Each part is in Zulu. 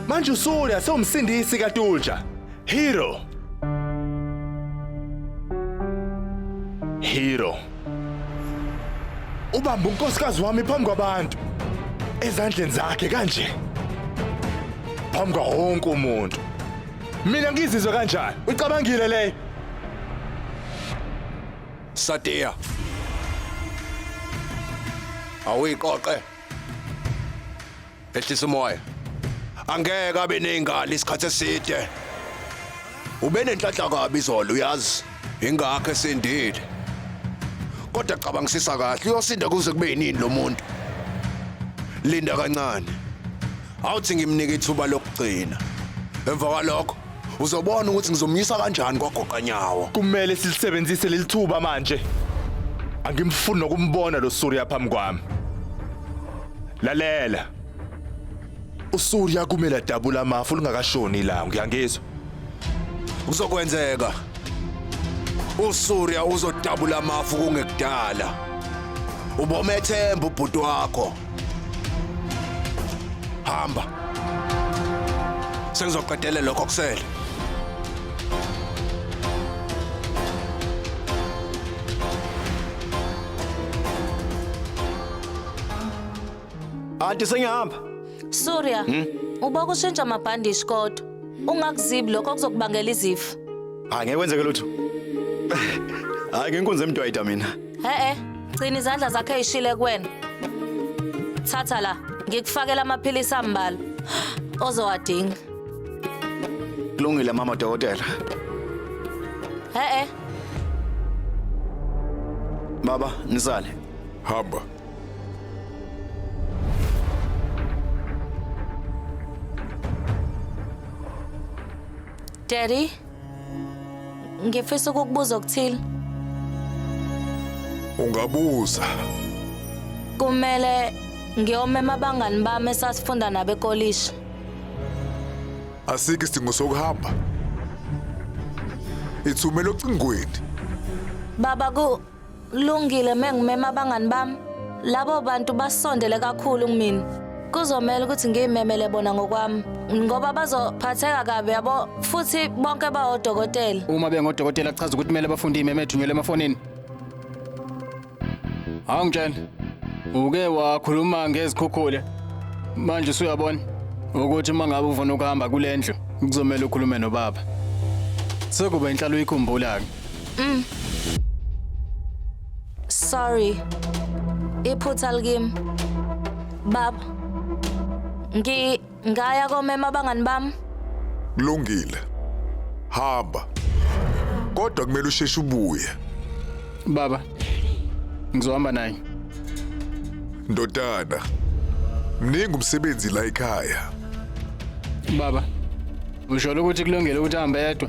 Manje usulya sewumsindisi kaTulja. Hero. Hero. Ubamba unkosikazi wami phambi kwabantu. Ezandleni zakhe kanje. Phambi kwa wonke umuntu. Mina ngizizwe kanjani? Ucabangile le? Sadia. Awuyiqoqe. Ehlisa umoya. Angeke abe nezingali isikhathi eside. Ube nenhlanhla kabi izolo uyazi. Ingakho esindile. Kodwa cabangisisa kahle uyosinda kuze kube yinini lo muntu. Linda kancane. awuthi ngimnike ithuba lokugcina emva kwalokho uzobona ukuthi ngizomyisa kanjani kwagoqanyawo kumele silisebenzise leli thuba manje angimfuni nokumbona lo Surya phambi kwami lalela uSurya kumele adabula amafu lingakashoni ilanga ngiyangizwa kuzokwenzeka uSurya uzodabula amafu kungekudala ubomethemba ubhuti wakho hamba sengizoqedele lokho kusele Anti sengihamba. Surya, hmm? uba kushintsha amabhandishi kodwa ungakuzibi lokho kuzokubangela izifo. Hayi ngeke kwenzeke lutho. Hayi ngenkunzi emdwayida mina. He-e, gcina izandla zakhe eyishile kuwena. Thatha la, ngikufakela amaphilisi ambalwa ozowadinga. Kulungile mama dokotela. He-e, Baba, nisale. Hamba. Daddy, Ngifisa ukukubuza okuthile. Ungabuza. Kumele ngiyomema abangani bami esasifunda nabo ekolishi. Asikho isidingo sokuhamba. Ithumela ocingweni. Baba ku Kulungile mengimema abangani bami. Labo bantu basondele kakhulu kumina. Kuzomela ukuthi ngiyimemele bona ngokwami ngoba bazophatheka kabi yabo futhi bonke bawodokotela. Uma bengodokotela kuchaza ukuthi kumele bafunde imeme ethunyelwe emafonini. Awungitshela. Uke wakhuluma ngezikhukhula. Manje usuyabona ukuthi uma ngabe ufuna ukuhamba kulendlu kuzomela ukhulume nobaba. Sekuba inhlalo uyikhumbula-ke. Mm. Sorry. Iphutha likim. Bab. Ngi ngaya komema abangani bami. Kulungile. Hamba. Kodwa kumele usheshe ubuye. Baba. Ngizohamba naye. Ndodana. Mningi umsebenzi la ekhaya. Baba. Usho ukuthi kulungile ukuthi ahambe yedwa.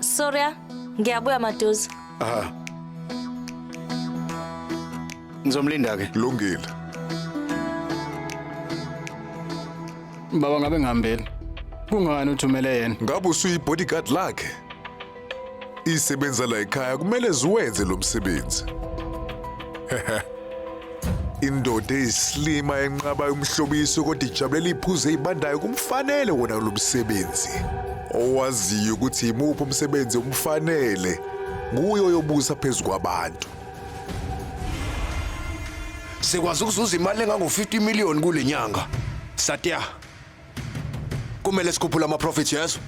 Sorry, ah. ngiyabuya maduze. Aha. Ngizomlinda ke. Lungile. Baba ngabe ngihambeni. Kungani uthumele yena? Ngabe usuyi bodyguard lakhe? Isebenza la ekhaya kumele ziwenze lo msebenzi. Indoda eyisilima enqabayo umhlobiso kodwa ijabulela iphuzu eyibandayo kumfanele wona lo msebenzi. Owaziyo ukuthi yimuphi umsebenzi omfanele nguye oyobusa phezu kwabantu. Sikwazi ukuzuza imali engango-50 million kule nyanga. Satya. Kumele sikhuphule ama-profits yezo.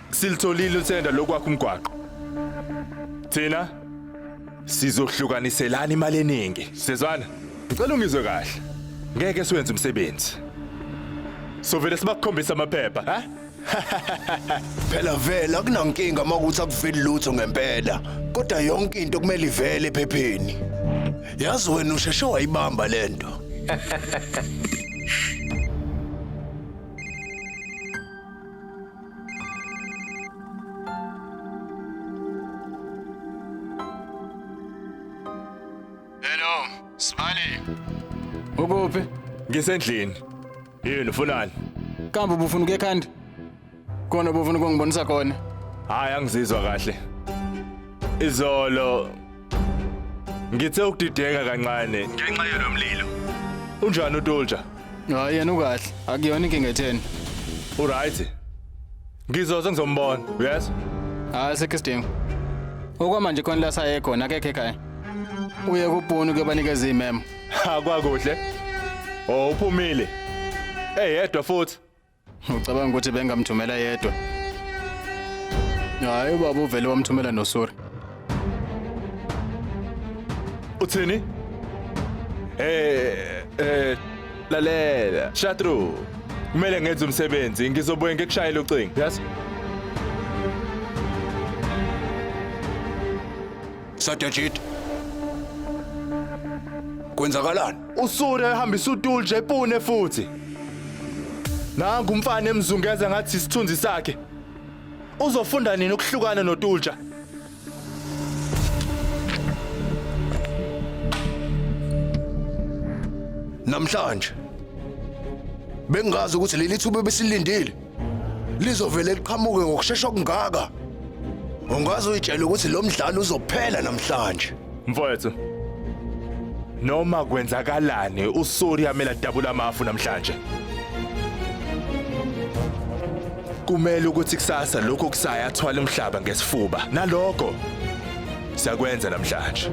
Silitholile uthenda lokwakha umgwaqo. Thina sizohlukaniselana imali eningi. Sezwana, ngicela ungizwe kahle. Ngeke siwenze umsebenzi. Sovele sibakhombisa amaphepha, ha? Phela vele akunankinga uma ukuthi akuveli lutho ngempela. Kodwa yonke into kumele ivele ephepheni. Yazi wena usheshe wayibamba lento. Hello, Smiley. Ukuphi? Ngisendlini. Yini ufunani? Kambe ubufuna ukuya ekhanda? Khona ubufuna ukungibonisa khona. Hayi angizizwa kahle. Izolo ngithe ukudideka kancane ngenxa yalomlilo. Unjani uTulja? Hayi yena ukahle. Akuyona inkinga etheni. Uright. Ngizoze ngizombona. Yes. Hayi sekho isidingo. Okwamanje khona la saye khona akekho ekhaya. Uye kupuni kuyobanikeza imemo. Ha kwakuhle. Oh uphumile. Eyedwa futhi. Ucabanga ukuthi bengamthumela yedwa? Hayi ubaba uvele wamthumela nosuri. Uthini? Eh eh lalela. Shatru. Kumele ngenze umsebenzi. Ngizobuye ngikushayele ucingo. Yes. Satyajit. Kwenzakalani? Usune ehambisa utulje epune futhi. Nangu umfana emzungeza ngathi isithunzi sakhe. Uzofunda nini ukuhlukana notulja? Namhlanje bengazi ukuthi leli thuba besilindile. lizovele liqhamuke ngokushesha okungaka ungaze uyitshele ukuthi lo mdlalo uzophela namhlanje mfowethu noma kwenzakalani usori amela dabula amafu namhlanje kumele ukuthi kusasa lokho kusaya athwala umhlaba ngesifuba naloko sakwenza namhlanje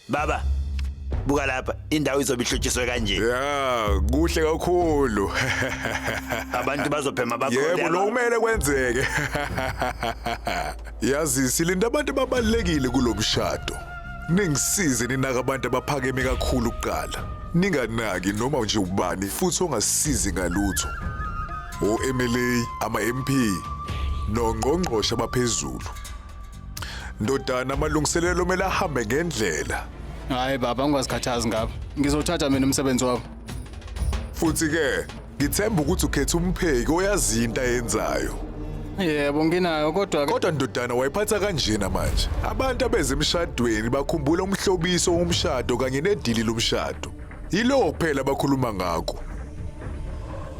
Baba, buka lapha, indawo izobe ihlotshiswe kanje. Ya, kuhle kakhulu. Abantu bazophema bakhole. Yebo, aba- lokumele kwenzeke. Yazi silinda abantu ababalekile kulomshado. Ningisize ninaka abantu abaphakeme kakhulu kuqala. Ninganaki noma nje ubani futhi ongasizi ngalutho. O MLA, ama MP, nongqongqoshe abaphezulu. Ndodana amalungiselelo kumele ahambe ngendlela. Hayi baba ungazikhathazi ngabo. Ngizothatha mina umsebenzi wabo. Futhi ke ngithemba ukuthi ukhetha umpheki oyazi into ayenzayo. Yebo nginayo kodwa ke Kodwa ndodana wayiphatha kanjena manje. Abantu abeze emshadweni bakhumbula umhlobiso womshado kanye nedili lomshado. Yiloko kuphela abakhuluma ngakho.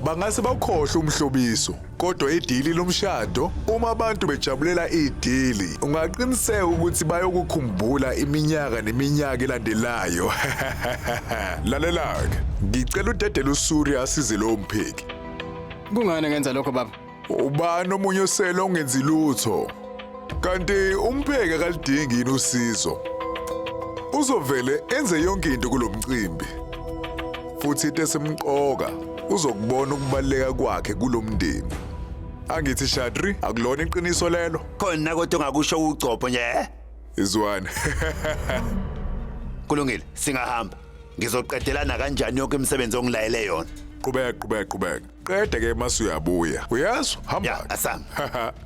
Bangase bakhohlwe umhlobiso. kodwa idili lomshado uma abantu bejabulela idili ungaqiniseka ukuthi bayokukhumbula iminyaka neminyaka elandelayo lalelake ngicela udedele usuri asize lowo mpheki Kungani ngenza lokho baba? ubani omunye osele ongenzi lutho Kanti umpheki akalidingi yini usizo? Uzovele enze yonke into kulomcimbi. Futhi into esimqoka uzokubona ukubaleka kwakhe kulomndeni. Angithi Shadri akulona iqiniso lelo. Khona kodwa ongakusho ugcobho nje. eh? Izwani. Kulungile, singahamba. Ngizoqedelana kanjani yonke imisebenzi ongilayele yona? Qhubeka qhubeka qhubeka. Qede ke mase uyabuya. Uyazwa? Hamba. Ya, asami.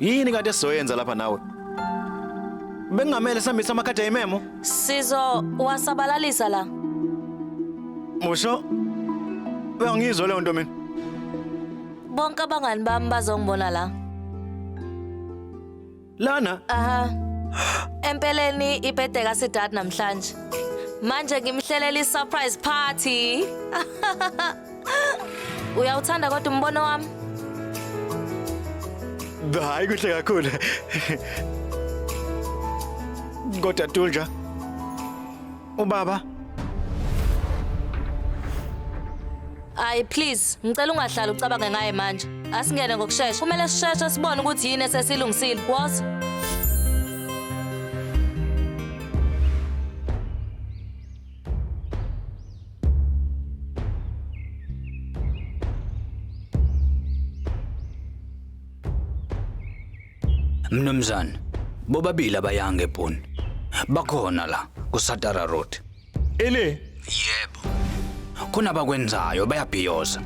Yini kanti esizoyenza lapha nawe? Bengamele sambisa amakhadi ayimemo. Sizo wasabalalisa la. Musho. Bengizwe leyo nto mina. Bonke abangani bami bazongibona la. Lana Aha. Empeleni ibhede kaSidad namhlanje. Manje ngimhlelela i-surprise party. Uyawuthanda kodwa umbono wami? hayi kuhle kakhulu. Kodwa Tunja, Ubaba. Ayi please, ngicela ungahlali ucabange ngaye manje. Asingene ngokushesha. Kumele sisheshe sibone ukuthi yini esesilungisile. Woza. Mnumzane, bobabili abayange bhuni. Bakhona la kuSatara Road. Ele Yebo. Khona abakwenzayo bayabhiyoza.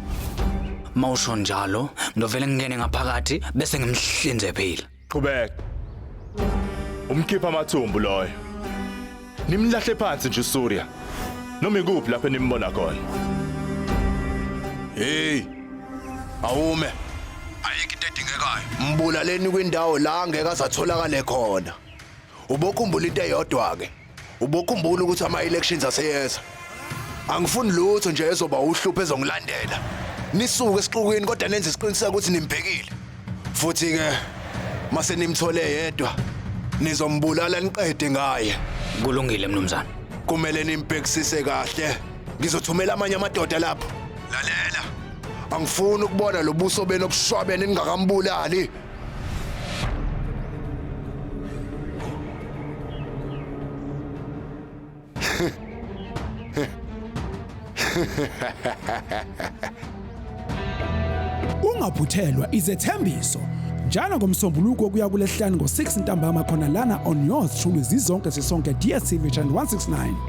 Mawusho njalo, ngizovele ngingene ngaphakathi bese ngimhlinze phila. qhubeka. Umkhipha amathumbu loyo. Nimlahle phansi nje uSurya. Noma ikuphi lapho nimbona khona. Hey. Awume. Ayikho into edingekayo. Mbulaleni kwindawo la ngeke azatholakale khona. Ubokhumbula into eyodwa ke. Ubokhumbula ukuthi ama elections aseyeza. angifuni lutho nje ezoba uhlupho ezongilandela nisuke esixukwini kodwa nenze isiqiniseko ukuthi nimbhekile futhi ke mase nimthole yedwa nizombulala niqede ngaye kulungile mnumzane kumele nimbhekisise kahle ngizothumela amanye amadoda lapho lalela angifuni ukubona lobuso benu obushwabene ningakambulali Ungaphuthelwa izethembiso njalo ngomsombuluko kuya kulesihlanu ngo-6 ntambama khona lana on yours truly zizonke sisonke DSTV channel 169